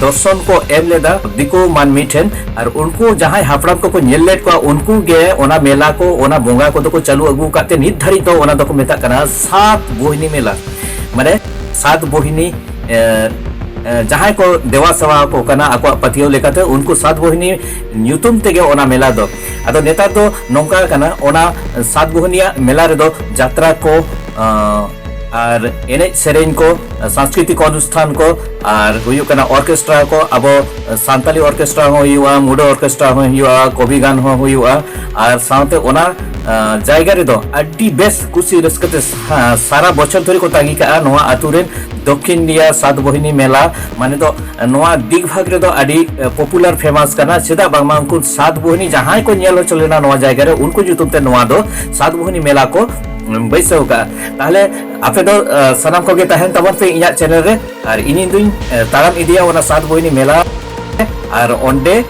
ᱫᱚᱨᱥᱚᱱ ᱠᱚ ᱮᱢ ᱞᱮᱫᱟ ᱫᱤᱠᱩ ᱢᱟᱹᱱᱢᱤ ᱴᱷᱮᱱ ᱟᱨ ᱩᱱᱠᱩ ᱡᱟᱦᱟᱸᱭ ᱦᱟᱯᱲᱟᱢ ᱠᱚᱠᱚ ᱧᱮᱞ ᱞᱮᱫ ᱠᱚᱣᱟ ᱩᱱᱠᱩ ᱜᱮ ᱚᱱᱟ ᱢᱮᱞᱟ ᱠᱚ ᱚᱱᱟ ᱵᱚᱸᱜᱟ ᱠᱚᱫᱚ ᱠᱚ ᱪᱟᱹᱞᱩ ᱟᱹᱜᱩ ᱟᱠᱟᱫ ᱛᱮ ᱱᱤᱛ ᱫᱷᱟᱹᱨᱤᱡ ᱫᱚ ᱚᱱᱟ ᱫᱚᱠᱚ ᱢᱮᱛᱟᱜ ᱠᱟᱱᱟ ᱥᱟᱛ ᱵᱳᱦᱤᱱᱤ ᱢᱮᱞᱟ ᱢᱟᱱᱮ ᱥᱟᱛ ᱵᱳᱦᱤᱱᱤ ᱡᱟᱦᱟᱸᱭ ᱠᱚ ᱫᱮᱣᱟ ᱥᱮᱣᱟ ᱠᱚ ᱠᱟᱱᱟ ᱟᱠᱚᱣᱟᱜ ᱯᱟᱹᱛᱭᱟᱹᱣ ᱞᱮᱠᱟᱛᱮ ᱩᱱᱠᱩ ᱥᱟᱛ ᱵᱳᱦᱤᱱᱤ ᱧᱩᱛᱩᱢ ᱛᱮᱜᱮ ᱚᱱᱟ ᱢᱮᱞᱟ ᱫᱚ ᱟᱫᱚ ᱱᱮᱛᱟᱨ ᱫᱚ ᱱᱚᱝᱠᱟ ᱠᱟᱱᱟ ᱚᱱᱟ ᱥᱟᱛ ᱵᱳᱦᱤᱱᱤᱭᱟᱜ ᱢᱮᱞᱟ ᱨᱮᱫᱚ ᱡᱟᱛᱨᱟ ᱠᱚ ᱟᱨ ᱮᱱᱮᱡ ᱥᱮᱨᱮᱧ ᱠᱚ ᱥᱟᱝᱥᱠᱨᱤᱛᱤᱠ ᱚᱱᱩᱥᱴᱷᱟᱱ ᱠᱚ ᱟᱨ ᱦᱩᱭᱩᱜ ᱠᱟᱱᱟ ᱚᱨᱠᱮᱥᱴᱨᱟ ᱠᱚ ᱟᱵᱚ ᱥᱟᱱᱛᱟᱞᱤ ᱚᱨᱠᱮᱥᱴᱨᱟ ᱦᱚᱸ ᱦᱩᱭᱩᱜᱼᱟ ᱢᱩᱰᱟᱹ ᱚᱨᱠᱮᱥᱴᱨᱟ ᱦᱚᱸ ᱦᱩᱭᱩᱜᱼᱟ ᱠᱚᱵᱤ ᱜᱟᱱ ᱦᱚᱸ ᱦᱩᱭᱩᱜᱼᱟ ᱟᱨ ᱥᱟᱶᱛᱮ ᱚᱱᱟ ᱡᱟᱭᱜᱟ ᱨᱮᱫᱚ ᱟᱹᱰᱤ ᱵᱮᱥ ᱠᱩᱥᱤ ᱨᱟᱹᱥᱠᱟᱹ ᱛᱮ ᱥᱟᱨᱟ ᱵᱚᱪᱷᱚᱨ ᱫᱷᱚᱨᱮ ᱠᱚ ᱛᱟᱺᱜᱤ ᱠᱟᱜᱼᱟ ᱱᱚᱣᱟ ᱟᱛᱳ ᱨᱮᱱ ᱫᱚᱠᱠᱷᱤᱱ ᱤᱱᱰᱤᱭᱟ ᱥᱟᱛ ᱵᱚᱦᱤᱱᱤ ᱢᱮᱞᱟ ᱢᱟᱱᱮ ᱫᱚ ᱱᱚᱣᱟ ᱫᱤᱜᱽ ᱵᱷᱟᱜᱽ ᱨᱮᱫᱚ ᱟᱹᱰᱤ ᱯᱚᱯᱩᱞᱟᱨ ᱯᱷᱮᱢᱟᱥ ᱠᱟᱱᱟ ᱪᱮᱫᱟᱜ ᱵᱟᱝᱢᱟ ᱩᱱᱠᱩ ᱥᱟᱛ ᱵᱚᱦᱤᱱᱤ ᱡᱟᱦᱟᱸᱭ ᱠᱚ ᱧᱮᱞ ᱦᱚᱪᱚ ᱞᱮᱱᱟ ᱱᱚᱣᱟ ᱡᱟᱭᱜᱟ ᱨᱮ ᱩᱱᱠᱩ ᱧᱩᱛᱩᱢ ᱛᱮ ᱱᱚᱣᱟ ᱫᱚ ᱥᱟᱛ ᱵᱚᱦᱤᱱᱤ ᱢᱮᱞᱟ ᱠᱚ ᱵᱟᱹᱭᱥᱟᱹᱣ ᱠᱟᱜᱼᱟ ᱛᱟᱦᱞᱮ ᱟᱯᱮ ᱫᱚ ᱥᱟᱱᱟᱢ ᱠᱚᱜᱮ ᱛᱟᱦᱮᱱ ᱛᱟᱵᱚᱱ ᱯᱮ ᱤᱧᱟᱹᱜ ᱪᱮᱱᱮᱞ ᱨᱮ ᱟᱨ ᱤᱧ ᱫᱩᱧ ᱛᱟᱲᱟᱢ ᱤᱫᱤᱭᱟ ᱚᱱᱟ ᱥᱟᱛ ᱵᱚᱭᱱᱤ ᱢᱮᱞᱟ ᱟᱨ ᱚᱸᱰᱮ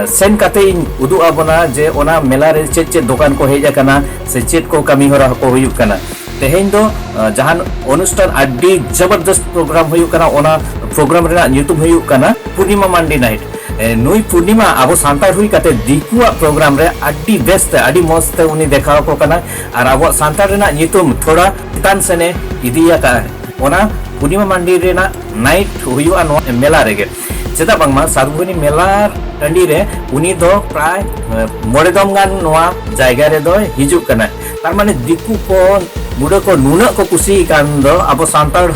ᱥᱮᱱ ᱠᱟᱛᱮ ᱤᱧ ᱩᱫᱩᱜ ᱟᱵᱚᱱᱟ ᱡᱮ ᱚᱱᱟ ᱢᱮᱞᱟ ᱨᱮ ᱪᱮᱫ ᱪᱮᱫ ᱫᱚᱠᱟᱱ ᱠᱚ ᱦᱮᱡ ᱟᱠᱟᱱᱟ ᱥᱮ ᱪᱮᱫ ᱠᱚ ᱠᱟᱹᱢᱤ ᱦᱚᱨᱟ ᱠᱚ ᱦᱩᱭᱩᱜ ᱠᱟᱱᱟ ᱛᱮᱦᱮᱧ ᱫᱚ ᱡᱟᱦᱟᱱ ᱚᱱᱩᱥᱴᱷᱟᱱ ᱟᱹᱰᱤ ᱡᱚᱵᱚᱨᱫᱚᱥᱛ ᱯᱨᱳᱜᱨᱟᱢ ᱦᱩᱭᱩᱜ ᱠᱟᱱᱟ ᱚᱱᱟ ᱯᱨᱳᱜᱨᱟᱢ ᱨᱮᱱᱟᱜ ᱧᱩᱛᱩᱢ ᱦᱩᱭᱩᱜ ᱠᱟᱱᱟ ᱯᱩᱨᱱᱤᱢᱟ ᱢᱟᱱᱰᱤ ᱱᱟᱭᱤᱴ ᱱᱩᱭ ᱯᱩᱨᱱᱤᱢᱟ ᱟᱵᱚ ᱥᱟᱱᱛᱟᱲ ᱦᱩᱭ ᱠᱟᱛᱮ ᱫᱤᱠᱩᱣᱟᱜ ᱯᱨᱳᱜᱨᱟᱢ ᱨᱮ ᱟᱹᱰᱤ ᱵᱮᱥᱛᱮ ᱟᱹᱰᱤ ᱢᱚᱡᱽᱛᱮ ᱩᱱᱤ ᱫᱮᱠᱷᱟᱣ ᱟᱠᱚ ᱠᱟᱱᱟ ᱟᱨ ᱟᱵᱚᱣᱟᱜ ᱥᱟᱱᱛᱟᱲ ᱨᱮᱱᱟᱜ ᱧᱩᱛᱩᱢ ᱛᱷᱚᱲᱟ ᱪᱮᱛᱟᱱ ᱥᱮᱱᱮ ᱤᱫᱤ ᱟᱠᱟᱫᱼᱟ ᱚᱱᱟ ᱯᱩᱨᱱᱤᱢᱟ ᱢᱟᱱᱰᱤ ᱨᱮᱱᱟᱜ ᱱᱟᱭᱤᱴ ᱦᱩᱭᱩᱜᱼᱟ ᱱᱚᱣᱟ ᱢᱮᱞᱟ ᱨᱮᱜᱮ ᱪᱮᱫᱟᱜ ᱵᱟᱝᱢᱟ ᱥᱟᱫᱷᱩᱵᱟᱹᱱᱤ ᱢᱮᱞᱟ ᱴᱟᱺᱰᱤ ᱨᱮ ᱩᱱᱤ ᱫᱚ ᱯᱨᱟᱭ ᱢᱚᱬᱮ ᱫᱚᱢ ᱜᱟᱱ ᱱᱚᱣᱟ ᱡᱟᱭᱜᱟ ᱨᱮᱫᱚ ᱦᱤᱡᱩᱜ ᱠᱟᱱᱟ ᱛᱟᱨ ᱢᱟᱱᱮ ᱫᱤᱠᱩ ᱠᱚ ᱢᱩᱰᱟᱹ ᱠᱚ ᱱᱩᱱᱟᱹᱜ ᱠᱚ ᱠᱩᱥᱤ ᱠᱟᱱ ᱫᱚ ᱟᱵᱚ ᱥᱟᱱᱛᱟᱲ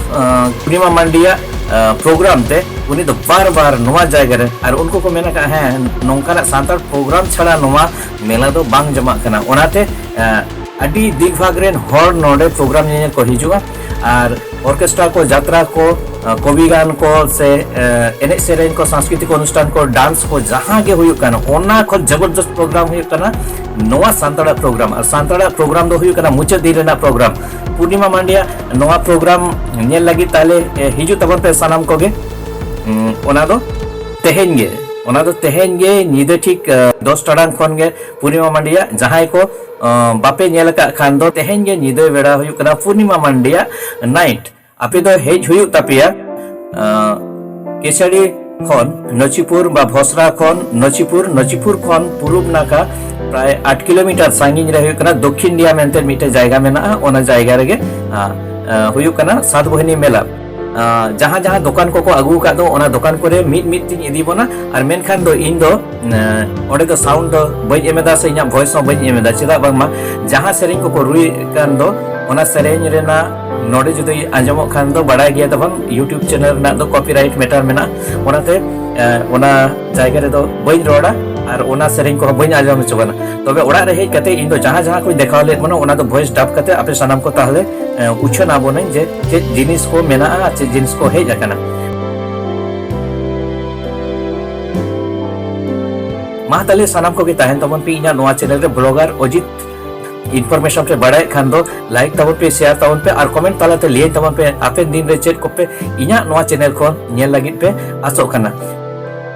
ᱯᱩᱨᱱᱤᱢᱟ ᱢᱟᱱᱰᱤᱭᱟᱜ ᱯᱨᱳᱜᱨᱟᱢ ᱛᱮ ᱩᱱᱤ ᱫᱚ ᱵᱟᱨ ᱵᱟᱨ ᱱᱚᱣᱟ ᱡᱟᱭᱜᱟ ᱨᱮ ᱟᱨ ᱩᱱᱠᱩ ᱠᱚ ᱢᱮᱱ ᱟᱠᱟᱫᱼᱟ ᱦᱮᱸ ᱱᱚᱝᱠᱟᱱᱟᱜ ᱥᱟᱱᱛᱟᱲ ᱯᱨᱳᱜᱨᱟᱢ ᱪᱷᱟᱲᱟ ᱱᱚᱣᱟ ᱢᱮᱞᱟ ᱫᱚ ᱵᱟᱝ ᱡᱚᱢᱟᱜ ᱠᱟᱱᱟ ᱚᱱᱟᱛᱮ ᱟᱹᱰᱤ ᱫᱤᱠ ᱵᱷᱟᱜᱽ ᱨᱮᱱ ᱦᱚᱲ ᱱᱚᱰᱮ ᱯᱨᱳᱜᱨᱟᱢ ᱧᱮᱧᱮᱞ ᱠᱚ ᱦᱤᱡᱩᱜᱼᱟ ᱟᱨ ᱚᱨᱠᱮᱥᱴᱨᱟ ᱠᱚ ᱡᱟᱛᱨᱟ ᱠᱚ ᱠᱚᱵᱤ ᱜᱟᱱ ᱠᱚ ᱥᱮ ᱮᱱᱮᱡ ᱥᱮᱨᱮᱧ ᱠᱚ ᱥᱟᱝᱥᱠᱨᱤᱛᱤᱠ ᱚᱱᱩᱥᱴᱷᱟᱱ ᱠᱚ ᱰᱟᱱᱥ ᱠᱚ ᱡᱟᱦᱟᱸ ᱜᱮ ᱦᱩᱭᱩᱜ ᱠᱟᱱᱟ ᱚᱱᱟ ᱠᱷᱚᱱ ᱡᱚᱵᱚᱨᱫᱚᱥᱛ ᱯᱨᱳᱜᱨᱟᱢ ᱦᱩᱭᱩᱜ ᱠᱟᱱᱟ ᱱᱚᱣᱟ ᱥᱟᱱᱛᱟᱲᱟᱜ ᱯᱨᱳᱜᱨᱟᱢ ᱟᱨ ᱥᱟᱱᱛᱟᱲᱟᱜ ᱯᱨᱳᱜᱨᱟᱢ ᱫᱚ ᱦᱩᱭᱩᱜ ᱠᱟᱱᱟ ᱢᱩᱪᱟᱹᱫ ᱫᱤᱱ ᱨᱮᱱᱟᱜ ᱯᱨᱳᱜᱨᱟᱢ ᱯᱩᱨᱱᱤᱢᱟ ᱢᱟᱱᱰᱤᱭᱟ ᱱᱚᱣᱟ ᱯᱨᱳᱜᱨᱟᱢ ᱧᱮᱞ ᱞᱟᱹᱜᱤᱫ ᱛᱟᱦᱞᱮ ᱦᱤᱡᱩᱜ ᱛᱟᱵᱚᱱ ᱯᱮ ᱥᱟᱱᱟᱢ ᱠᱚᱜᱮ ᱚᱱᱟ ᱫᱚ ᱛᱮᱦᱮᱧ ᱜᱮ ᱚᱱᱟ ᱫᱚ ᱛᱮᱦᱮᱧ ᱜᱮ ᱧᱤᱫᱟᱹ ᱴᱷᱤᱠ ᱫᱚᱥ ᱴᱟᱲᱟᱝ ᱠᱷᱚᱱ ᱜᱮ ᱯᱩᱨᱱᱤᱢᱟ ᱢᱟᱱᱰᱤᱭᱟᱜ ᱡᱟᱦᱟᱸᱭ ᱠᱚ ᱵᱟᱯᱮ ᱧᱮᱞ ᱟᱠᱟᱫ ᱠᱷᱟᱱ ᱫᱚ ᱛᱮᱦᱮᱧ ᱜᱮ ᱧᱤᱫᱟᱹ ᱵᱮᱲᱟ ᱦᱩᱭᱩᱜ ᱠᱟᱱᱟ ᱯᱩᱨᱱᱤᱢᱟ ᱢᱟᱱᱰᱤᱭᱟᱜ ᱱᱟᱭᱤᱴ ᱟᱯᱮ ᱫᱚ ᱦᱮᱡ ᱦᱩᱭᱩᱜ ᱛᱟᱯᱮᱭᱟ ᱠᱮᱥᱟᱲᱤ ᱠᱷᱚᱱ ᱱᱚᱪᱤᱯᱩᱨ ᱵᱟ ᱵᱷᱚᱥᱨᱟ ᱠᱷᱚᱱ ᱱᱚᱪᱤᱯᱩᱨ ᱱᱚᱪᱤᱯᱩᱨ ᱠᱷᱚᱱ ᱯᱩᱨᱩᱵ ᱱᱟᱠᱷᱟ ᱯᱨᱟᱭ ᱟᱴ ᱠᱤᱞᱳᱢᱤᱴᱟᱨ ᱥᱟᱺᱜᱤᱧ ᱨᱮ ᱦᱩᱭᱩᱜ ᱠᱟᱱᱟ ᱫᱚᱠᱠᱷᱤᱱ ᱰᱤᱭᱟ ᱢᱮᱱᱛᱮ ᱢᱤᱫᱴᱮᱱ ᱡᱟᱭᱜᱟ ᱢᱮᱱᱟᱜᱼᱟ ᱚᱱᱟ ᱡᱟᱭᱜᱟ ᱨᱮᱜᱮ ᱦᱩᱭᱩᱜ ᱠᱟᱱᱟ ᱥᱟᱛ ᱵᱟᱹᱦᱤᱱᱤ ᱢᱮᱞᱟ ᱡᱟᱦᱟᱸ ᱡᱟᱦᱟᱸ ᱫᱚᱠᱟᱱ ᱠᱚᱠᱚ ᱟᱹᱜᱩ ᱟᱠᱟᱫ ᱫᱚ ᱚᱱᱟ ᱫᱚᱠᱟᱱ ᱠᱚᱨᱮ ᱢᱤᱫ ᱢᱤᱫ ᱛᱤᱧ ᱤᱫᱤ ᱵᱚᱱᱟ ᱟᱨ ᱢᱮᱱᱠᱷᱟᱱ ᱫᱚ ᱤᱧ ᱫᱚ ᱚᱸᱰᱮ ᱫᱚ ᱥᱟᱣᱩᱱᱰ ᱫᱚ ᱵᱟᱹᱧ ᱮᱢ ᱮᱫᱟ ᱥᱮ ᱤᱧᱟᱹᱜ ᱵᱷᱚᱭᱮᱥ ᱦᱚᱸ ᱵᱟᱹᱧ ᱮᱢ ᱮᱫᱟ ᱪᱮᱫᱟᱜ ᱵᱟᱝᱢᱟ ᱡᱟᱦᱟᱸ ᱥᱮᱨᱮᱧ ᱠᱚᱠᱚ ᱨᱩᱭᱮᱫ ᱠᱟᱱ ᱫᱚ ᱚᱱᱟ ᱥᱮᱨᱮᱧ ᱨᱮᱱᱟᱜ ᱱᱚᱰᱮ ᱡᱩᱫᱤ ᱟᱸᱡᱚᱢᱚᱜ ᱠᱷᱟᱱ ᱫᱚ ᱵᱟᱲᱟᱭ ᱜᱮᱭᱟ ᱛᱟᱵᱚᱱ ᱤᱭᱩᱴᱩᱵᱽ ᱪᱮᱱᱮᱞ ᱨᱮᱱᱟᱜ ᱫᱚ ᱠᱚᱯᱤᱨᱟᱭᱤᱴ ᱢᱮᱴᱟᱨ ᱢᱮᱱᱟᱜᱼᱟ ᱚᱱᱟᱛᱮ ᱚᱱᱟ ᱡᱟᱭᱜᱟ ᱨᱮᱫᱚ ᱵᱟᱹᱧ ᱨᱚᱲᱟ ᱟᱨ ᱚᱱᱟ ᱥᱮᱨᱮᱧ ᱠᱚᱦᱚᱸ ᱵᱟᱹᱧ ᱟᱸᱡᱚᱢ ᱦᱚᱪᱚ ᱠᱟᱱᱟ ᱛᱚᱵᱮ ᱚᱲᱟᱜ ᱨᱮ ᱦᱮᱡ ᱠᱟᱛᱮ ᱤᱧ ᱫᱚ ᱡᱟᱦᱟᱸ ᱡᱟᱦᱟᱸ ᱠᱚᱧ ᱫᱮᱠᱷᱟᱣ ᱞᱮᱫ ᱵᱚᱱᱟ ᱚᱱᱟ ᱫᱚ ᱵᱷᱚᱭᱮᱥ ᱰᱟᱵ ᱠᱟᱛᱮ ᱟᱯᱮ ᱥᱟᱱᱟᱢ ᱠᱚ ᱛᱟᱦᱞᱮ ᱩᱪᱷᱟᱹᱱ ᱟᱵᱚᱱᱟᱹᱧ ᱡᱮ ᱪᱮᱫ ᱡᱤᱱᱤᱥ ᱠᱚ ᱢᱮᱱᱟᱜᱼᱟ ᱟᱨ ᱪᱮᱫ ᱡᱤᱱᱤᱥ ᱠᱚ ᱦᱮᱡ ᱟᱠᱟᱱᱟ ᱢᱟ ᱛᱟᱦᱞᱮ ᱥᱟᱱᱟᱢ ᱠᱚᱜᱮ ᱛᱟᱦᱮᱱ ᱛᱟᱵᱚᱱ ᱯᱮ ᱤᱧᱟᱹᱜ ᱱᱚᱣᱟ ᱪᱮᱱᱮᱞ ᱨᱮ ᱵᱞᱚᱜᱟᱨ ᱚᱡᱤᱛ ᱤᱱᱯᱷᱚᱨᱢᱮᱥᱚᱱ ᱯᱮ ᱵᱟᱲᱟᱭᱮᱫ ᱠᱷᱟᱱ ᱫᱚ ᱞᱟᱭᱤᱠ ᱛᱟᱵᱚᱱ ᱯᱮ ᱥᱮᱭᱟᱨ ᱛᱟᱵᱚᱱ ᱯᱮ ᱟᱨ ᱠᱚᱢᱮᱱᱴ ᱛᱟᱞᱟᱛᱮ ᱞᱟᱹᱭ ᱛᱟᱵᱚᱱ ᱯᱮ ᱦᱟᱯᱮᱱ ᱫᱤᱱ ᱨᱮ ᱪᱮᱫ ᱠᱚᱯᱮ ᱤᱧᱟᱹᱜ ᱱᱚᱣᱟ ᱪᱮᱱᱮᱞ ᱠᱷᱚᱱ ᱧᱮᱞ ᱞᱟᱹᱜᱤᱫ ᱯᱮ ᱟᱥᱚᱜ ᱠᱟᱱᱟ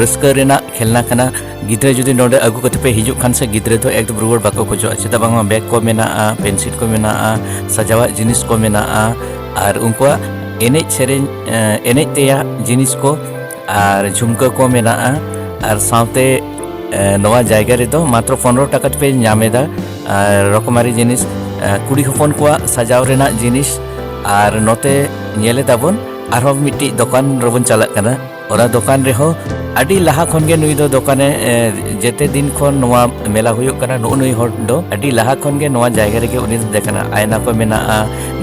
ᱨᱟᱹᱥᱠᱟᱹ ᱨᱮᱱᱟᱜ ᱠᱷᱮᱞᱱᱟ ᱠᱟᱱᱟ ᱜᱤᱫᱽᱨᱟᱹ ᱡᱩᱫᱤ ᱱᱚᱰᱮ ᱟᱹᱜᱩ ᱠᱟᱛᱮ ᱯᱮ ᱦᱤᱡᱩᱜ ᱠᱷᱟᱱ ᱥᱮ ᱜᱤᱫᱽᱨᱟᱹ ᱫᱚ ᱮᱠᱫᱚᱢ ᱨᱩᱣᱟᱹᱲ ᱵᱟᱠᱚ ᱠᱷᱚᱡᱚᱜᱼᱟ ᱪᱮᱫᱟᱜ ᱵᱟᱝᱢᱟ ᱵᱮᱜᱽ ᱠᱚ ᱢᱮᱱᱟᱜᱼᱟ ᱯᱮᱱᱥᱤᱞ ᱠᱚ ᱢᱮᱱᱟᱜᱼᱟ ᱥᱟᱡᱟᱣᱟᱜ ᱡᱤᱱᱤᱥ ᱠᱚ ᱢᱮᱱᱟᱜᱼᱟ ᱟᱨ ᱩᱱᱠᱩᱣᱟᱜ ᱮᱱᱮᱡ ᱥᱮᱨᱮᱧ ᱮᱱᱮᱡ ᱛᱮᱭᱟᱜ ᱡᱤᱱᱤᱥ ᱠᱚ ᱟᱨ ᱡᱷᱩᱢᱠᱟᱹ ᱠᱚ ᱢᱮᱱᱟᱜᱼᱟ ᱟᱨ ᱥᱟᱶᱛᱮ ᱱᱚᱣᱟ ᱡᱟᱭᱜᱟ ᱨᱮᱫᱚ ᱢᱟᱛᱨᱚ ᱯᱚᱱᱨᱚ ᱴᱟᱠᱟ ᱛᱮᱯᱮ ᱧᱟᱢᱮᱫᱟ ᱟᱨ ᱨᱚᱠᱚᱢᱟᱨᱤ ᱡᱤᱱᱤᱥ ᱠᱩᱲᱤ ᱦᱚᱯᱚᱱ ᱠᱚᱣᱟᱜ ᱥᱟᱡᱟᱣ ᱨᱮᱱᱟᱜ ᱡᱤᱱᱤᱥ ᱟᱨ ᱱᱚᱛᱮ ᱧᱮᱞᱮᱫᱟᱵᱚᱱ ᱟᱨᱦᱚᱸ ᱢᱤᱫᱴᱤᱡ ᱫᱚᱠᱟᱱ ᱨᱮᱵᱚᱱ ᱪᱟᱞᱟᱜ ᱠᱟᱱᱟ ᱚᱱᱟ ᱫᱚᱠᱟᱱ ᱨᱮᱦᱚᱸ ᱟᱹᱰᱤ ᱞᱟᱦᱟ ᱠᱷᱚᱱ ᱜᱮ ᱱᱩᱭ ᱫᱚ ᱫᱚᱠᱟᱱᱮ ᱡᱮᱛᱮ ᱫᱤᱱ ᱠᱷᱚᱱ ᱱᱚᱣᱟ ᱢᱮᱞᱟ ᱦᱩᱭᱩᱜ ᱠᱟᱱᱟ ᱱᱩᱜ ᱱᱩᱭ ᱦᱚᱲ ᱫᱚ ᱟᱹᱰᱤ ᱞᱟᱦᱟ ᱠᱷᱚᱱ ᱜᱮ ᱱᱚᱣᱟ ᱡᱟᱭᱜᱟ ᱨᱮᱜᱮ ᱩᱱᱤ ᱫᱚ ᱫᱮᱠᱟᱱᱟ ᱟᱭᱱᱟ ᱠᱚ ᱢᱮᱱᱟᱜᱼᱟ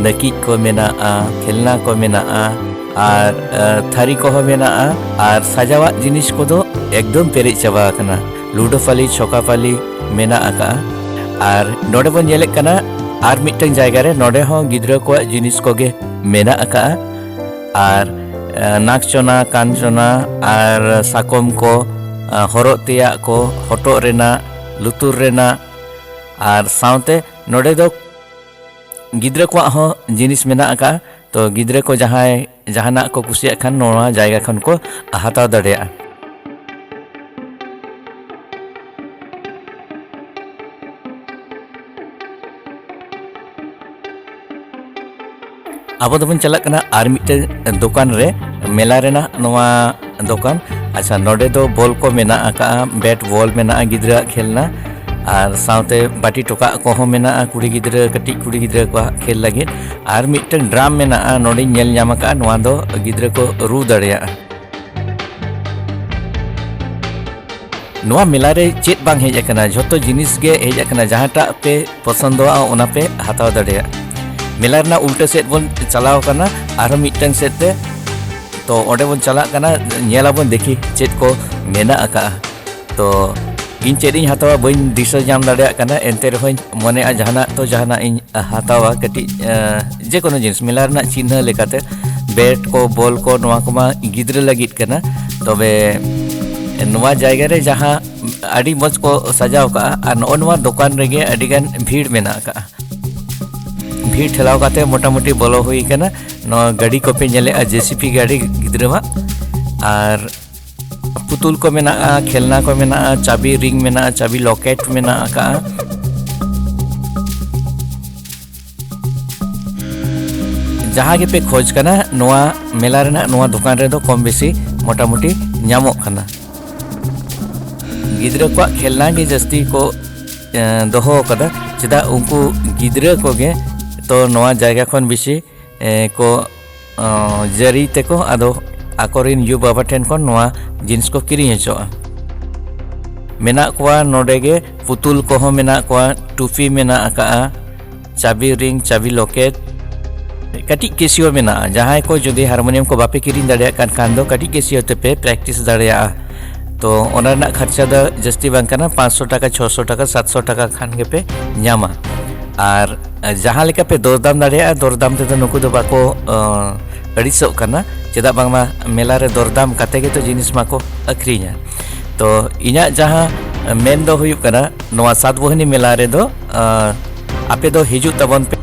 ᱱᱟᱹᱠᱤᱡ ᱠᱚ ᱢᱮᱱᱟᱜᱼᱟ ᱠᱷᱮᱞᱱᱟ ᱠᱚ ᱢᱮᱱᱟᱜᱼᱟ ᱟᱨ ᱛᱷᱟᱹᱨᱤ ᱠᱚᱦᱚᱸ ᱢᱮᱱᱟᱜᱼᱟ ᱟᱨ ᱥᱟᱡᱟᱣᱟᱜ ᱡᱤᱱᱤᱥ ᱠᱚᱫᱚ ᱮᱠᱫᱚᱢ ᱯᱮᱨᱮᱡ ᱪᱟᱵᱟ ᱟᱠᱟᱱᱟ ᱞᱩᱰᱳᱯᱟᱞᱤ ᱪᱷᱚᱠᱟᱯᱟᱞᱤ ᱢᱮᱱᱟᱜ ᱟᱠᱟᱜᱼᱟ ᱟᱨ ᱱᱚᱰᱮ ᱵᱚᱱ ᱧᱮᱞᱮᱫ ᱠᱟᱱᱟ ᱟᱨ ᱢᱤᱫᱴᱟᱝ ᱡᱟᱭᱜᱟ ᱨᱮ ᱱᱚᱰᱮ ᱦᱚᱸ ᱜᱤᱫᱽᱨᱟᱹ ᱠᱚᱣᱟᱜ ᱡᱤᱱᱤᱥ ᱠᱚᱜᱮ ᱢᱮᱱᱟᱜ ᱟᱠᱟᱜᱼᱟ ᱟᱨ ᱱᱟᱠᱪᱚᱱᱟ ᱠᱟᱧᱪᱚᱱᱟ ᱟᱨ ᱥᱟᱠᱚᱢ ᱠᱚ ᱦᱚᱨᱚᱜ ᱛᱮᱭᱟᱜ ᱠᱚ ᱦᱚᱴᱚᱜ ᱨᱮᱱᱟᱜ ᱞᱩᱛᱩᱨ ᱨᱮᱱᱟᱜ ᱟᱨ ᱥᱟᱶᱛᱮ ᱱᱚᱰᱮ ᱫᱚ ᱜᱤᱫᱽᱨᱟᱹ ᱠᱚᱣᱟᱜ ᱦᱚᱸ ᱡᱤᱱᱤᱥ ᱢᱮᱱᱟᱜ ᱟᱠᱟᱫᱼᱟ ᱛᱚ ᱜᱤᱫᱽᱨᱟᱹ ᱠᱚ ᱡᱟᱦᱟᱸᱭ ᱡᱟᱦᱟᱱᱟᱜ ᱠᱚ ᱠᱩᱥᱤᱭᱟᱜ ᱠᱷᱟᱱ ᱱᱚᱣᱟ ᱡᱟᱭᱜᱟ ᱠᱷᱚᱱ ᱠᱚ ᱦᱟᱛᱟᱣ ᱫᱟᱲᱮᱭᱟᱜᱼᱟ ᱟᱵᱚ ᱫᱚᱵᱚᱱ ᱪᱟᱞᱟᱜ ᱠᱟᱱᱟ ᱟᱨ ᱢᱤᱫᱴᱮᱱ ᱫᱚᱠᱟᱱ ᱨᱮ ᱢᱮᱞᱟ ᱨᱮᱱᱟᱜ ᱱᱚᱣᱟ ᱫᱚᱠᱟᱱ ᱟᱪᱪᱷᱟ ᱱᱚᱰᱮ ᱫᱚ ᱵᱚᱞ ᱠᱚ ᱢᱮᱱᱟᱜ ᱟᱠᱟᱜᱼᱟ ᱵᱮᱴ ᱵᱚᱞ ᱢᱮᱱᱟᱜᱼᱟ ᱜᱤᱫᱽᱨᱟᱹᱣᱟᱜ ᱠᱷᱮᱞᱱᱟ ᱟᱨ ᱥᱟᱶᱛᱮ ᱵᱟᱹᱴᱤ ᱴᱚᱠᱟᱜ ᱠᱚᱦᱚᱸ ᱢᱮᱱᱟᱜᱼᱟ ᱠᱩᱲᱤ ᱜᱤᱫᱽᱨᱟᱹ ᱠᱟᱹᱴᱤᱡ ᱠᱩᱲᱤ ᱜᱤᱫᱽᱨᱟᱹ ᱠᱚᱣᱟᱜ ᱠᱷᱮᱞ ᱞᱟᱹᱜᱤᱫ ᱟᱨ ᱢᱤᱫᱴᱮᱱ ᱰᱨᱟᱢ ᱢᱮᱱᱟᱜᱼᱟ ᱱᱚᱰᱮᱧ ᱧᱮᱞ ᱧᱟᱢ ᱟᱠᱟᱜᱼᱟ ᱱᱚᱣᱟ ᱫᱚ ᱜᱤᱫᱽᱨᱟᱹ ᱠᱚ ᱨᱩ ᱫᱟᱲᱮᱭᱟᱜᱼᱟ ᱱᱚᱣᱟ ᱢᱮᱞᱟ ᱨᱮ ᱪᱮᱫ ᱵᱟᱝ ᱦᱮᱡ ᱟᱠᱟᱱᱟ ᱡᱷᱚᱛᱚ ᱡᱤᱱᱤᱥ ᱜᱮ ᱦᱮᱡ ᱟᱠᱟᱱᱟ ᱡᱟᱦᱟᱸᱴᱟᱜ ᱯᱮ ᱯᱚᱥᱚᱱᱫᱚᱜᱼᱟ ᱚᱱᱟ ᱯᱮ ᱦᱟᱛᱟᱣ ᱫᱟᱲᱮᱭᱟᱜᱼᱟ ᱢᱮᱞᱟ ᱨᱮᱱᱟᱜ ᱩᱞᱴᱟᱹ ᱥᱮᱫ ᱵᱚᱱ ᱪᱟᱞᱟᱣ ᱠᱟᱱᱟ ᱟᱨᱦᱚᱸ ᱢᱤᱫᱴᱟᱝ ᱥᱮᱫ ᱛᱮ ᱛᱚ ᱚᱸᱰᱮ ᱵᱚᱱ ᱪᱟᱞᱟᱜ ᱠᱟᱱᱟ ᱧᱮᱞᱟᱵᱚᱱ ᱫᱮᱠᱷᱤ ᱪᱮᱫ ᱠᱚ ᱢᱮᱱᱟᱜ ᱟᱠᱟᱜᱼᱟ ᱛᱚ ᱤᱧ ᱪᱮᱫ ᱤᱧ ᱦᱟᱛᱟᱣᱟ ᱵᱟᱹᱧ ᱫᱤᱥᱟᱹ ᱧᱟᱢ ᱫᱟᱲᱮᱭᱟᱜ ᱠᱟᱱᱟ ᱮᱱᱛᱮ ᱨᱮᱦᱚᱸᱧ ᱢᱚᱱᱮᱜᱼᱟ ᱡᱟᱦᱟᱱᱟᱜ ᱛᱚ ᱡᱟᱦᱟᱱᱟᱜ ᱤᱧ ᱦᱟᱛᱟᱣᱟ ᱠᱟᱹᱴᱤᱡ ᱡᱮ ᱠᱳᱱᱳ ᱡᱤᱱᱤᱥ ᱢᱮᱞᱟ ᱨᱮᱱᱟᱜ ᱪᱤᱱᱦᱟᱹ ᱞᱮᱠᱟᱛᱮ ᱵᱮᱴ ᱠᱚ ᱵᱚᱞ ᱠᱚ ᱱᱚᱣᱟ ᱠᱚᱢᱟ ᱜᱤᱫᱽᱨᱟᱹ ᱞᱟᱹᱜᱤᱫ ᱠᱟᱱᱟ ᱛᱚᱵᱮ ᱱᱚᱣᱟ ᱡᱟᱭᱜᱟ ᱨᱮ ᱡᱟᱦᱟᱸ ᱟᱹᱰᱤ ᱢᱚᱡᱽ ᱠᱚ ᱥᱟᱡᱟᱣ ᱠᱟᱜᱼᱟ ᱟᱨ ᱱᱚᱜᱼᱚ ᱱᱚᱣᱟ ᱫᱚᱠᱟᱱ ᱨᱮᱜᱮ ᱟᱹᱰᱤ ᱜᱟᱱ ᱵᱷᱤᱲ ᱢᱮᱱᱟᱜ ᱠᱟᱜᱼᱟ ᱵᱷᱤᱲ ᱴᱷᱮᱞᱟᱣ ᱠᱟᱛᱮ ᱢᱚᱴᱟᱢᱩᱴᱤ ᱵᱚᱞᱚ ᱦᱩᱭ ᱠᱟᱱᱟ ᱱᱚᱣᱟ ᱜᱟᱹᱰᱤ ᱠᱚᱯᱮ ᱧᱮᱞᱮᱜᱼᱟ ᱡᱮᱥᱤᱯᱤ ᱜᱟᱹᱰᱤ ᱜᱤᱫᱽᱨᱟᱹᱣᱟᱜ ᱟᱨ ᱯᱩᱛᱩᱞ ᱠᱚ ᱢᱮᱱᱟᱜᱼᱟ ᱠᱷᱮᱞᱱᱟ ᱠᱚ ᱢᱮᱱᱟᱜᱼᱟ ᱪᱟᱵᱤ ᱨᱤᱝ ᱢᱮᱱᱟᱜᱼᱟ ᱪᱟᱵᱤ ᱞᱚᱠᱮᱴ ᱢᱮᱱᱟᱜ ᱠᱟᱜᱼᱟ ᱡᱟᱦᱟᱸ ᱜᱮᱯᱮ ᱠᱷᱚᱡ ᱠᱟᱱᱟ ᱱᱚᱣᱟ ᱢᱮᱞᱟ ᱨᱮᱱᱟᱜ ᱱᱚᱣᱟ ᱫᱚᱠᱟᱱ ᱨᱮᱫᱚ ᱠᱚᱢ ᱵᱮᱥᱤ ᱢᱚᱴᱟᱢᱩᱴᱤ ᱧᱟᱢᱚᱜ ᱠᱟᱱᱟ ᱜᱤᱫᱽᱨᱟᱹ ᱠᱚᱣᱟᱜ ᱠᱷᱮᱞᱱᱟ ᱜᱮ ᱡᱟᱹᱥᱛᱤ ᱠᱚ ᱫᱚᱦᱚ ᱟᱠᱟᱫᱟ ᱪᱮᱫᱟᱜ ᱩᱱᱠᱩ ᱜᱤᱫᱽᱨᱟᱹ ᱠᱚᱜᱮ ᱛᱚ ᱱᱚᱣᱟ ᱡᱟᱭᱜᱟ ᱠᱷᱚᱱ ᱵᱮᱥᱤ ᱠᱚ ᱡᱟᱹᱨᱤ ᱛᱮᱠᱚ ᱟᱫᱚ ᱟᱠᱚᱨᱮᱱ ᱭᱩ ᱵᱟᱵᱟ ᱴᱷᱮᱱ ᱠᱷᱚᱱ ᱱᱚᱣᱟ ᱡᱤᱱᱤᱥ ᱠᱚ ᱠᱤᱨᱤᱧ ᱦᱚᱪᱚᱜᱼᱟ ᱢᱮᱱᱟᱜ ᱠᱚᱣᱟ ᱱᱚᱰᱮ ᱜᱮ ᱯᱩᱛᱩᱞ ᱠᱚᱦᱚᱸ ᱢᱮᱱᱟᱜ ᱠᱚᱣᱟ ᱴᱩᱯᱤ ᱢᱮᱱᱟᱜ ᱟᱠᱟᱜᱼᱟ ᱪᱟᱵᱤ ᱨᱤᱝ ᱪᱟᱵᱤ ᱞᱚᱠᱮᱴ ᱠᱟᱹᱴᱤᱡ ᱠᱮᱥᱤᱭᱳ ᱢᱮᱱᱟᱜᱼᱟ ᱡᱟᱦᱟᱸᱭ ᱠᱚ ᱡᱩᱫᱤ ᱦᱟᱨᱢᱳᱱᱤᱭᱟᱢ ᱠᱚ ᱵᱟᱯᱮ ᱠᱤᱨᱤᱧ ᱫᱟᱲᱮᱭᱟᱜ ᱠᱟᱱ ᱠᱷᱟᱱ ᱫᱚ ᱠᱟᱹᱴᱤᱡ ᱠᱮᱥᱤᱭᱳ ᱛᱮᱯᱮ ᱯᱨᱮᱠᱴᱤᱥ ᱫᱟᱲᱮᱭᱟᱜᱼᱟ ᱛᱚ ᱚᱱᱟ ᱨᱮᱱᱟᱜ ᱠᱷᱚᱨᱪᱟ ᱫᱚ ᱡᱟᱹᱥᱛᱤ ᱵᱟᱝ ᱠᱟᱱᱟ ᱯᱟᱸᱪᱥᱚ ᱴᱟᱠᱟ ᱪᱷᱚᱥᱚ ᱴᱟᱠᱟ ᱥᱟᱛᱥᱚ ᱴᱟᱠᱟ ᱠᱷᱟᱱ ᱜᱮᱯᱮ ᱧᱟᱢᱟ ᱟᱨ ᱡᱟᱦᱟᱸ ᱞᱮᱠᱟ ᱯᱮ ᱫᱚᱨᱫᱟᱢ ᱫᱟᱲᱮᱭᱟᱜᱼᱟ ᱫᱚᱨᱫᱟᱢ ᱛᱮᱫᱚ ᱱᱩᱠᱩ ᱫᱚ ᱵᱟᱠᱚ ᱟᱹᱲᱤᱥᱚᱜ ᱠᱟᱱᱟ ᱪᱮᱫᱟᱜ ᱵᱟᱝᱢᱟ ᱢᱮᱞᱟ ᱨᱮ ᱫᱚᱨᱫᱟᱢ ᱠᱟᱛᱮ ᱜᱮᱛᱚ ᱡᱤᱱᱤᱥ ᱢᱟᱠᱚ ᱟᱹᱠᱷᱨᱤᱧᱟ ᱛᱚ ᱤᱧᱟᱹᱜ ᱡᱟᱦᱟᱸ ᱢᱮᱱ ᱫᱚ ᱦᱩᱭᱩᱜ ᱠᱟᱱᱟ ᱱᱚᱣᱟ ᱥᱟᱛᱵᱳᱦᱤᱱᱤ ᱢᱮᱞᱟ ᱨᱮᱫᱚ ᱟᱯᱮ ᱫᱚ ᱦᱤᱡᱩᱜ ᱛᱟᱵᱚᱱ ᱯᱮ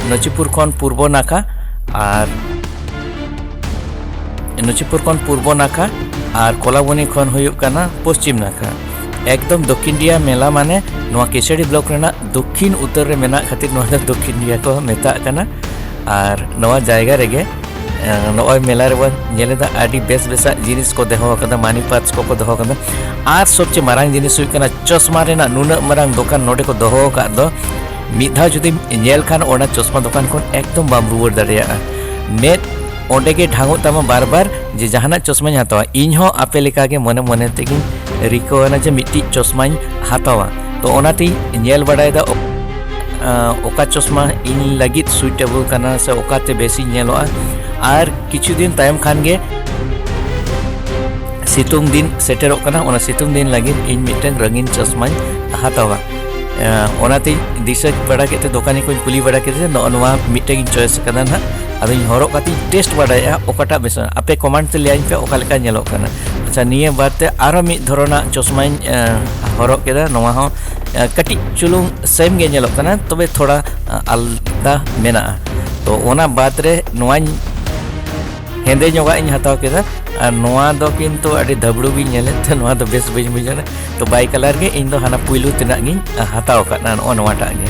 ᱱᱚᱪᱤᱯᱩᱨ ᱠᱷᱚᱱ ᱯᱩᱨᱵᱚ ᱱᱟᱠᱷᱟ ᱟᱨ ᱱᱚᱪᱤᱯᱩᱨ ᱠᱷᱚᱱ ᱯᱩᱨᱵᱚ ᱱᱟᱠᱷᱟ ᱟᱨ ᱠᱚᱞᱟᱵᱚᱱᱤ ᱠᱷᱚᱱ ᱦᱩᱭᱩᱜ ᱠᱟᱱᱟ ᱯᱚᱥᱪᱤᱢ ᱱᱟᱠᱷᱟ ᱮᱠᱫᱚᱢ ᱫᱚᱠᱠᱷᱤᱱ ᱰᱤᱭᱟ ᱢᱮᱞᱟ ᱢᱟᱱᱮ ᱱᱚᱣᱟ ᱠᱮᱥᱟᱨᱤ ᱵᱞᱚᱠ ᱨᱮᱱᱟᱜ ᱫᱚᱠᱠᱷᱤᱱ ᱩᱛᱟᱹᱨ ᱨᱮ ᱢᱮᱱᱟᱜ ᱠᱷᱟᱹᱛᱤᱨ ᱱᱚᱣᱟ ᱫᱚ ᱫᱚᱠᱠᱷᱤᱱ ᱰᱤᱭᱟ ᱠᱚ ᱢᱮᱛᱟᱜ ᱠᱟᱱᱟ ᱟᱨ ᱱᱚᱣᱟ ᱡᱟᱭᱜᱟ ᱨᱮᱜᱮ ᱱᱚᱜᱼᱚᱭ ᱢᱮᱞᱟ ᱨᱮᱵᱚᱱ ᱧᱮᱞᱮᱫᱟ ᱟᱹᱰᱤ ᱵᱮᱥ ᱵᱮᱥᱟᱜ ᱡᱤᱱᱤᱥ ᱠᱚ ᱫᱚᱦᱚ ᱟᱠᱟᱫᱟ ᱢᱟᱱᱤ ᱯᱟᱨᱥ ᱠᱚᱠᱚ ᱫᱚᱦᱚ ᱟᱠᱟᱫᱟ ᱟᱨ ᱥᱚᱵᱪᱮ ᱢᱟᱨᱟᱝ ᱡᱤᱱᱤᱥ ᱦᱩᱭᱩᱜ ᱠᱟᱱᱟ ᱪᱚᱥᱢᱟ ᱨᱮᱱᱟᱜ ᱱᱩᱱᱟᱹᱜ ᱢᱟᱨᱟᱝ ᱫᱚᱠᱟᱱ ᱱᱚᱰᱮ ᱠᱚ ᱫᱚᱦᱚ ᱟᱠᱟᱫ ᱫᱚ ᱢᱤᱫ ᱫᱷᱟᱣ ᱡᱩᱫᱤᱢ ᱧᱮᱞ ᱠᱷᱟᱱ ᱚᱱᱟ ᱪᱚᱥᱢᱟ ᱫᱚᱠᱟᱱ ᱠᱷᱚᱱ ᱮᱠᱫᱚᱢ ᱵᱟᱢ ᱨᱩᱣᱟᱹᱲ ᱫᱟᱲᱮᱭᱟᱜᱼᱟ ᱢᱮᱫ ᱚᱸᱰᱮ ᱜᱮ ᱰᱷᱟᱝᱚᱜ ᱛᱟᱢᱟ ᱵᱟᱨ ᱵᱟᱨ ᱡᱮ ᱡᱟᱦᱟᱱᱟᱜ ᱪᱚᱥᱢᱟᱧ ᱦᱟᱛᱟᱣᱟ ᱤᱧ ᱦᱚᱸ ᱟᱯᱮ ᱞᱮᱠᱟᱜᱮ ᱢᱚᱱᱮ ᱢᱚᱱᱮ ᱛᱮᱜᱮᱧ ᱨᱤᱠᱟᱹᱣᱟᱱᱟ ᱡᱮ ᱢᱤᱫᱴᱤᱡ ᱪᱚᱥᱢᱟᱧ ᱦᱟᱛᱟᱣᱟ ᱛᱚ ᱚᱱᱟᱛᱮ ᱧᱮᱞ ᱵᱟᱲᱟᱭᱮᱫᱟ ᱚᱠᱟ ᱪᱚᱥᱢᱟ ᱤᱧ ᱞᱟᱹᱜᱤᱫ ᱥᱩᱭᱴᱮᱵᱚᱞ ᱠᱟᱱᱟ ᱥᱮ ᱚᱠᱟᱛᱮ ᱵᱮᱥᱤᱧ ᱧᱮᱞᱚᱜᱼᱟ ᱟᱨ ᱠᱤᱪᱷᱩ ᱫᱤᱱ ᱛᱟᱭᱚᱢ ᱠᱷᱟᱱ ᱜᱮ ᱥᱤᱛᱩᱝ ᱫᱤᱱ ᱥᱮᱴᱮᱨᱚᱜ ᱠᱟᱱᱟ ᱚᱱᱟ ᱥᱤᱛᱩᱝ ᱫᱤᱱ ᱞᱟᱹᱜᱤᱫ ᱤᱧ ᱢᱤᱫᱴᱟᱝ ᱨᱚᱝᱜᱤᱱ ᱪᱚᱥᱢᱟᱧ ᱦᱟᱛᱟᱣᱟ ᱚᱱᱟᱛᱮ ᱫᱤᱥᱟᱹ ᱵᱟᱲᱟ ᱠᱮᱫ ᱛᱮ ᱫᱚᱠᱟᱱᱤ ᱠᱚᱧ ᱠᱩᱞᱤ ᱵᱟᱲᱟ ᱠᱮᱫᱮ ᱱᱚᱜᱼᱚ ᱱᱚᱣᱟ ᱢᱤᱫᱴᱟᱝ ᱤᱧ ᱪᱚᱭᱮᱥ ᱠᱟᱫᱟ ᱱᱟᱦᱟᱜ ᱟᱫᱚᱧ ᱦᱚᱨᱚᱜ ᱠᱟᱛᱮᱧ ᱴᱮᱥᱴ ᱵᱟᱲᱟᱭᱮᱫᱼᱟ ᱚᱠᱟᱴᱟᱜ ᱵᱮᱥᱟ ᱟᱯᱮ ᱠᱚᱢᱮᱱᱴ ᱛᱮ ᱞᱟᱹᱭᱟᱹᱧ ᱯᱮ ᱚᱠᱟ ᱞᱮᱠᱟ ᱧᱮᱞᱚᱜ ᱠᱟᱱᱟ ᱟᱪᱪᱷᱟ ᱱᱤᱭᱟᱹ ᱵᱟᱨ ᱛᱮ ᱟᱨᱚ ᱢᱤᱫ ᱫᱷᱚᱨᱚᱱᱟᱜ ᱪᱚᱥᱢᱟᱧ ᱦᱚᱨᱚᱜ ᱠᱮᱫᱟ ᱱᱚᱣᱟ ᱦᱚᱸ ᱠᱟᱹᱴᱤᱡ ᱪᱩᱞᱩᱝ ᱥᱮᱢ ᱜᱮ ᱧᱮᱞᱚᱜ ᱠᱟᱱᱟ ᱛᱚᱵᱮ ᱛᱷᱚᱲᱟ ᱟᱞᱫᱟ ᱢᱮᱱᱟᱜᱼᱟ ᱛᱚ ᱚᱱᱟ ᱵᱟᱫ ᱨᱮ ᱱᱚᱣᱟᱧ ᱦᱮᱸᱫᱮ ᱧᱚᱜᱟᱜ ᱤᱧ ᱦᱟᱛᱟᱣ ᱠᱮᱫᱟ ᱟᱨ ᱱᱚᱣᱟ ᱫᱚ ᱠᱤᱱᱛᱩ ᱟᱹᱰᱤ ᱫᱷᱟᱵᱲᱩ ᱜᱤᱧ ᱧᱮᱞᱮᱫ ᱛᱮ ᱱᱚᱣᱟ ᱫᱚ ᱵᱮᱥ ᱵᱟᱹᱧ ᱵᱩᱡᱷᱟᱹᱣ ᱮᱫᱟ ᱛᱚ ᱵᱟᱭ ᱠᱟᱞᱟᱨ ᱜᱮ ᱤᱧ ᱫᱚ ᱦᱟᱱᱟ ᱯᱩᱭᱞᱩ ᱛᱮᱱᱟᱜ ᱜᱤᱧ ᱦᱟᱛᱟᱣ ᱟᱠᱟᱫᱟ ᱱᱚᱜᱼᱚ ᱱᱚᱣᱟᱴᱟᱜ ᱜᱮ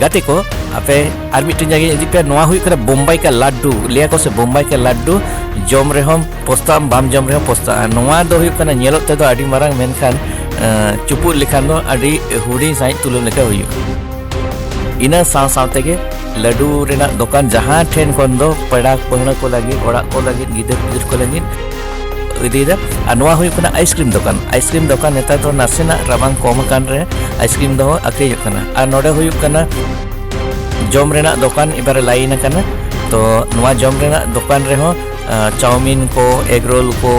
ᱜᱟᱛᱮ ᱠᱚ ᱟᱯᱮ ᱟᱨ ᱢᱤᱫᱴᱮᱱ ᱡᱟᱭᱜᱟ ᱤᱫᱤ ᱯᱮ ᱱᱚᱣᱟ ᱦᱩᱭᱩᱜ ᱠᱟᱱᱟ ᱵᱳᱢᱵᱟᱭ ᱠᱟ ᱞᱟᱰᱰᱩ ᱞᱟᱹᱭᱟ ᱠᱚ ᱥᱮ ᱵᱳᱢᱵᱟᱭ ᱠᱟ ᱞᱟᱰᱰᱩ ᱡᱚᱢ ᱨᱮᱦᱚᱸ ᱯᱚᱥᱛᱟᱜᱼᱟᱢ ᱵᱟᱢ ᱡᱚᱢ ᱨᱮᱦᱚᱸ ᱯᱚᱥᱛᱟᱜᱼᱟ ᱱᱚᱣᱟ ᱫᱚ ᱦᱩᱭᱩᱜ ᱠᱟᱱᱟ ᱧᱮᱞᱚᱜ ᱛᱮᱫᱚ ᱟᱹᱰᱤ ᱢᱟᱨᱟᱝ ᱢᱮᱱᱠᱷᱟᱱ ᱪᱩᱯᱩᱫ ᱞᱮᱠᱷᱟᱱ ᱫᱚ ᱟᱹᱰᱤ ᱦᱩᱰᱤᱧ ᱥᱟᱺᱦᱤᱡ ᱛᱩᱞᱟᱹᱣ ᱞᱮᱠᱟ ᱦᱩᱭᱩᱜᱼᱟ ᱤᱱᱟᱹ ᱥᱟᱶ ᱥᱟᱶ ᱛᱮᱜᱮ ᱞᱟᱹᱰᱩ ᱨᱮᱱᱟᱜ ᱫᱚᱠᱟᱱ ᱡᱟᱦᱟᱸ ᱴᱷᱮᱱ ᱠᱷᱚᱱ ᱫᱚ ᱯᱮᱲᱟ ᱯᱟᱹᱦᱲᱟᱹ ᱠᱚ ᱞᱟᱹᱜᱤᱫ ᱚᱲᱟᱜ ᱠᱚ ᱞᱟᱹᱜᱤᱫ ᱜᱤᱫᱟᱹᱨ ᱯᱤᱫᱟᱹᱨ ᱠᱚ ᱞᱟᱹᱜᱤᱫ ᱤᱫᱤᱭᱮᱫᱟ ᱟᱨ ᱱᱚᱣᱟ ᱦᱩᱭᱩᱜ ᱠᱟᱱᱟ ᱟᱭᱤᱥᱠᱨᱤᱢ ᱫᱚᱠᱟᱱ ᱟᱭᱤᱥᱠᱨᱤᱢ ᱫᱚᱠᱟᱱ ᱱᱮᱛᱟᱨ ᱫᱚ ᱱᱟᱥᱮᱱᱟᱜ ᱨᱟᱵᱟᱝ ᱠᱚᱢ ᱟᱠᱟᱱ ᱨᱮ ᱟᱭᱤᱥᱠᱨᱤᱢ ᱫᱚ ᱟᱹᱠᱷᱨᱤᱧᱚᱜ ᱠᱟᱱᱟ ᱟᱨ ᱱᱚᱰᱮ ᱦᱩᱭᱩᱜ ᱠᱟᱱᱟ ᱡᱚᱢ ᱨᱮᱱᱟᱜ ᱫᱚᱠᱟᱱ ᱮᱵᱟᱨᱮ ᱞᱟᱭᱤᱱ ᱟᱠᱟᱱᱟ ᱛᱚ ᱱᱚᱣᱟ ᱡᱚᱢ ᱨᱮᱱᱟᱜ ᱫᱚᱠᱟᱱ ᱨᱮᱦᱚᱸ ᱪᱟᱣᱢᱤᱱ ᱠᱚ ᱮᱜᱽ ᱨᱳᱞ ᱠᱚ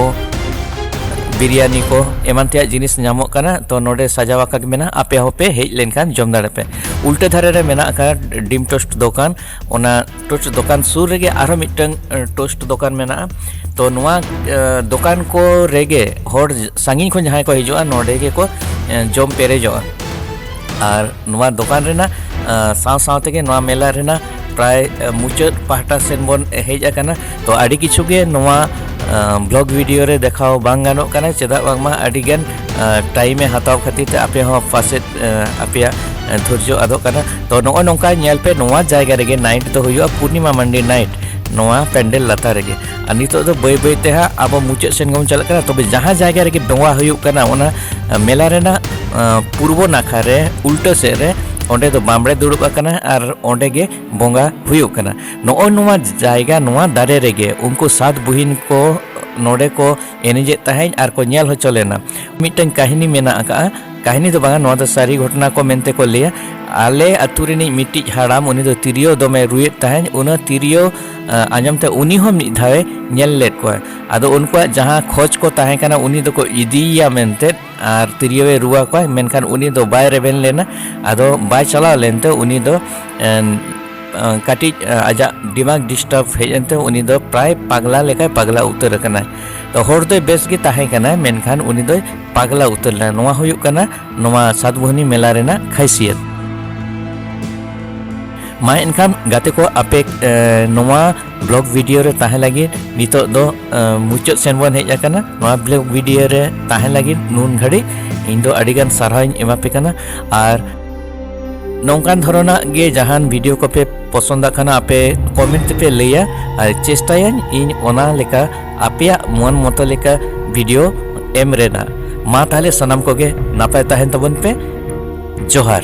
ᱵᱤᱨᱤᱭᱟᱱᱤ ᱠᱚ ᱮᱢᱟᱱ ᱛᱮᱭᱟᱜ ᱡᱤᱱᱤᱥ ᱧᱟᱢᱚᱜ ᱠᱟᱱᱟ ᱛᱚ ᱱᱚᱰᱮ ᱥᱟᱡᱟᱣ ᱟᱠᱟᱫ ᱢᱮᱱᱟᱜᱼᱟ ᱟᱯᱮ ᱦᱚᱸᱯᱮ ᱦᱮᱡ ᱞᱮᱱᱠᱷᱟᱱ ᱡᱚᱢ ᱫᱟᱲᱮᱭᱟᱜ ᱯᱮ ᱩᱞᱴᱟᱹ ᱫᱷᱟᱨᱮ ᱨᱮ ᱢᱮᱱᱟᱜ ᱟᱠᱟᱫ ᱰᱤᱢ ᱴᱳᱥᱴ ᱫᱚᱠᱟᱱ ᱚᱱᱟ ᱴᱳᱥᱴ ᱫᱚᱠᱟᱱ ᱥᱩᱨ ᱨᱮᱜᱮ ᱟᱨᱦᱚᱸ ᱢᱤᱫᱴᱟᱝ ᱴᱳᱥᱴ ᱫᱚᱠᱟᱱ ᱢᱮᱱᱟᱜᱼᱟ ᱛᱚ ᱱᱚᱣᱟ ᱫᱚᱠᱟᱱ ᱠᱚ ᱨᱮᱜᱮ ᱦᱚᱲ ᱥᱟᱺᱜᱤᱧ ᱠᱷᱚᱱ ᱡᱟᱦᱟᱸᱭ ᱠᱚ ᱦᱤᱡᱩᱜᱼᱟ ᱱᱚᱰᱮ ᱜᱮᱠᱚ ᱡᱚᱢ ᱯᱮᱨᱮᱡᱚᱜᱼᱟ ᱟᱨ ᱱᱚᱣᱟ ᱫᱚᱠᱟᱱ ᱨᱮᱱᱟᱜ ᱥᱟᱶ ᱥᱟᱶ ᱛᱮᱜᱮ ᱱᱚᱣᱟ ᱢᱮᱞᱟ ᱨᱮᱱᱟᱜ ᱯᱨᱟᱭ ᱢᱩᱪᱟᱹᱫ ᱯᱟᱦᱴᱟ ᱥᱮᱱ ᱵᱚᱱ ᱦᱮᱡ ᱟᱠᱟᱱᱟ ᱛᱚ ᱟᱹᱰᱤ ᱠᱤᱪᱷᱩ ᱜᱮ ᱱᱚᱣᱟ ᱵᱞᱚᱜ ᱵᱷᱤᱰᱤᱭᱳ ᱨᱮ ᱫᱮᱠᱷᱟᱣ ᱵᱟᱝ ᱜᱟᱱᱚᱜ ᱠᱟᱱᱟ ᱪᱮᱫᱟᱜ ᱵᱟᱝᱢᱟ ᱟᱹᱰᱤ ᱜᱟᱱ ᱴᱟᱭᱤᱢ ᱮ ᱦᱟᱛᱟᱣ ᱠᱷᱟᱹᱛᱤᱨ ᱛᱮ ᱟᱯᱮ ᱦᱚᱸ ᱯᱟᱥᱮᱡ ᱟᱯᱮᱭᱟᱜ ᱫᱷᱳᱨᱡᱚ ᱟᱫᱚᱜ ᱠᱟᱱᱟ ᱛᱚ ᱱᱚᱜᱼᱚᱭ ᱱᱚᱝᱠᱟ ᱧᱮᱞ ᱯᱮ ᱱᱚᱣᱟ ᱡᱟᱭᱜᱟ ᱨᱮᱜᱮ ᱱᱟᱭᱤᱴ ᱫᱚ ᱦᱩᱭᱩᱜᱼᱟ ᱯᱩᱨᱱᱤᱢᱟ ᱢᱟᱱᱰᱤ ᱱᱟᱭᱤᱴ ᱱᱚᱣᱟ ᱯᱮᱱᱰᱮᱞ ᱞᱟᱛᱟᱨ ᱨᱮᱜᱮ ᱟᱨ ᱱᱤᱛᱚᱜ ᱫᱚ ᱵᱟᱹᱭ ᱵᱟᱹᱭ ᱛᱮ ᱦᱟᱸᱜ ᱟᱵᱚ ᱢᱩᱪᱟᱹᱫ ᱥᱮᱱ ᱜᱮᱵᱚᱱ ᱪᱟᱞᱟᱜ ᱠᱟᱱᱟ ᱛᱚᱵᱮ ᱡᱟᱦᱟᱸ ᱡᱟᱭᱜᱟ ᱨᱮᱜᱮ ᱰᱚᱸᱜᱟ ᱦᱩᱭᱩᱜ ᱠᱟᱱᱟ ᱚᱱᱟ ᱢᱮᱞᱟ ᱨᱮᱱᱟᱜ ᱯᱩᱨᱵᱚ ᱱᱟᱠᱷᱟ ᱨᱮ ᱩᱞᱴᱟᱹ ᱥᱮᱫ ᱨᱮ ᱚᱸᱰᱮ ᱫᱚ ᱵᱟᱢᱲᱮ ᱫᱩᱲᱩᱵ ᱟᱠᱟᱱᱟ ᱟᱨ ᱚᱸᱰᱮ ᱜᱮ ᱵᱚᱸᱜᱟ ᱦᱩᱭᱩᱜ ᱠᱟᱱᱟ ᱱᱚᱜᱼᱚᱭ ᱱᱚᱣᱟ ᱡᱟᱭᱜᱟ ᱱᱚᱣᱟ ᱫᱟᱨᱮ ᱨᱮᱜᱮ ᱩᱱᱠᱩ ᱥᱟᱛ ᱵᱩᱦᱤᱱ ᱠᱚ ᱱᱚᱰᱮ ᱠᱚ ᱮᱱᱮᱡᱮᱫ ᱛᱟᱦᱮᱸᱫ ᱟᱨ ᱠᱚ ᱧᱮᱞ ᱦᱚᱪᱚ ᱞᱮᱱᱟ ᱢᱤᱫᱴᱟᱝ ᱠᱟᱹᱦᱱᱤ ᱢᱮᱱᱟᱜ ᱟᱠᱟᱫᱼᱟ ᱠᱟᱹᱦᱱᱤ ᱫᱚ ᱵᱟᱝᱟ ᱱᱚᱣᱟ ᱫᱚ ᱥᱟᱹᱨᱤ ᱜᱷᱚᱴᱚᱱᱟ ᱠᱚ ᱢᱮᱱᱛᱮ ᱠᱚ ᱞᱟᱹᱭᱟ ᱟᱞᱮ ᱟᱛᱳ ᱨᱤᱱᱤᱡ ᱢᱤᱫᱴᱤᱡ ᱦᱟᱲᱟᱢ ᱩᱱᱤ ᱫᱚ ᱛᱤᱨᱭᱳ ᱫᱚᱢᱮ ᱨᱩᱭᱮᱫ ᱛᱟᱦᱮᱸᱫ ᱚᱱᱟ ᱛᱤᱨᱭᱳ ᱟᱸᱡᱚᱢ ᱛᱮ ᱩᱱᱤ ᱦᱚᱸ ᱢᱤᱫ ᱫᱷᱟᱣᱮ ᱧᱮᱞ ᱞᱮᱫ ᱠᱚᱣᱟ ᱟᱫᱚ ᱩᱱᱠᱩᱣᱟᱜ ᱡᱟᱦᱟᱸ ᱠᱷᱚᱡᱽ ᱠᱚ ᱛᱟᱦᱮᱸ ᱠᱟᱱᱟ ᱩᱱᱤ ᱫᱚᱠᱚ ᱤᱫᱤᱭᱮᱭᱟ ᱢᱮᱱᱛᱮ ᱟᱨ ᱛᱤᱨᱭᱳ ᱮ ᱨᱩᱣᱟ ᱠᱚᱣᱟ ᱢᱮᱱᱠᱷᱟᱱ ᱩᱱᱤ ᱫᱚ ᱵᱟᱭ ᱨᱮᱵᱮᱱ ᱞᱮᱱᱟ ᱟᱫᱚ ᱵᱟᱭ ᱪᱟᱞᱟᱣ ᱞᱮᱱᱛᱮ ᱩᱱᱤ ᱫᱚ ᱠᱟᱹᱴᱤᱡ ᱟᱡᱟᱜ ᱫᱤᱢᱟᱜᱽ ᱰᱤᱥᱴᱟᱨᱵ ᱦᱮᱡ ᱮᱱᱛᱮ ᱩᱱᱤ ᱫᱚ ᱯᱨᱟᱭ ᱯᱟᱜᱽᱞᱟ ᱞᱮᱠᱟᱭ ᱯᱟᱜᱽᱞᱟ ᱩᱛᱟᱹᱨ ᱟᱠᱟᱱᱟ ᱛᱚ ᱦᱚᱲ ᱫᱚᱭ ᱵᱮᱥ ᱜᱮ ᱛᱟᱦᱮᱸ ᱠᱟᱱᱟ ᱢᱮᱱᱠᱷᱟᱱ ᱩᱱᱤ ᱫᱚᱭ ᱯᱟᱜᱽᱞᱟ ᱩᱛᱟᱹᱨ ᱞᱮᱱᱟ ᱱᱚᱣᱟ ᱦᱩᱭᱩᱜ ᱠᱟᱱᱟ ᱱᱚᱣᱟ ᱥᱟᱛᱵᱷᱩᱱᱤ ᱢᱮᱞᱟ ᱨᱮᱱᱟᱜ ᱠᱷᱟᱭᱥᱤᱭᱟᱛ ᱢᱟ ᱮᱱᱠᱷᱟᱱ ᱜᱟᱛᱮ ᱠᱚ ᱟᱯᱮ ᱱᱚᱣᱟ ᱵᱞᱚᱜ ᱵᱷᱤᱰᱤᱭᱳ ᱨᱮ ᱛᱟᱦᱮᱸ ᱞᱟᱹᱜᱤᱫ ᱱᱤᱛᱚᱜ ᱫᱚ ᱢᱩᱪᱟᱹᱫ ᱥᱮᱱ ᱵᱚᱱ ᱦᱮᱡ ᱟᱠᱟᱱᱟ ᱱᱚᱣᱟ ᱵᱞᱚᱜ ᱵᱷᱤᱰᱤᱭᱳ ᱨᱮ ᱛᱟᱦᱮᱸ ᱞᱟᱹᱜᱤᱫ ᱱᱩᱱ ᱜᱷᱟᱹᱲᱤᱡ ᱤᱧ ᱫᱚ ᱟᱹᱰᱤ ᱜᱟᱱ ᱥᱟᱨᱦᱟᱣ ᱤᱧ ᱮᱢᱟ ᱯᱮ ᱠᱟᱱᱟ ᱟᱨ ᱱᱚᱝᱠᱟᱱ ᱫᱷᱚᱨᱚᱱᱟᱜ ᱜᱮ ᱡᱟᱦᱟᱱ ᱵᱷᱤᱰᱤᱭᱳ ᱠᱚᱯᱮ ᱯᱚᱥᱚᱱᱫᱟᱜ ᱠᱷᱟᱱ ᱟᱯᱮ ᱠᱚᱢᱮᱱᱴ ᱛᱮᱯᱮ ᱞᱟᱹᱭᱟ ᱟᱨ ᱪᱮᱥᱴᱟᱭᱟᱹᱧ ᱤᱧ ᱚᱱᱟ ᱞᱮᱠᱟ ᱟᱯᱮᱭᱟᱜ ᱢᱚᱱ ᱢᱚᱛᱚ ᱞᱮᱠᱟ ᱵᱷᱤᱰᱤᱭᱳ ᱮᱢ ᱨᱮᱱᱟᱜ ᱢᱟ ᱛᱟᱦᱞᱮ ᱥᱟᱱᱟᱢ ᱠᱚᱜᱮ ᱱᱟᱯᱟᱭ ᱛᱟᱦᱮᱱ ᱛᱟᱵᱚᱱ ᱯᱮ ᱡᱚᱦᱟᱨ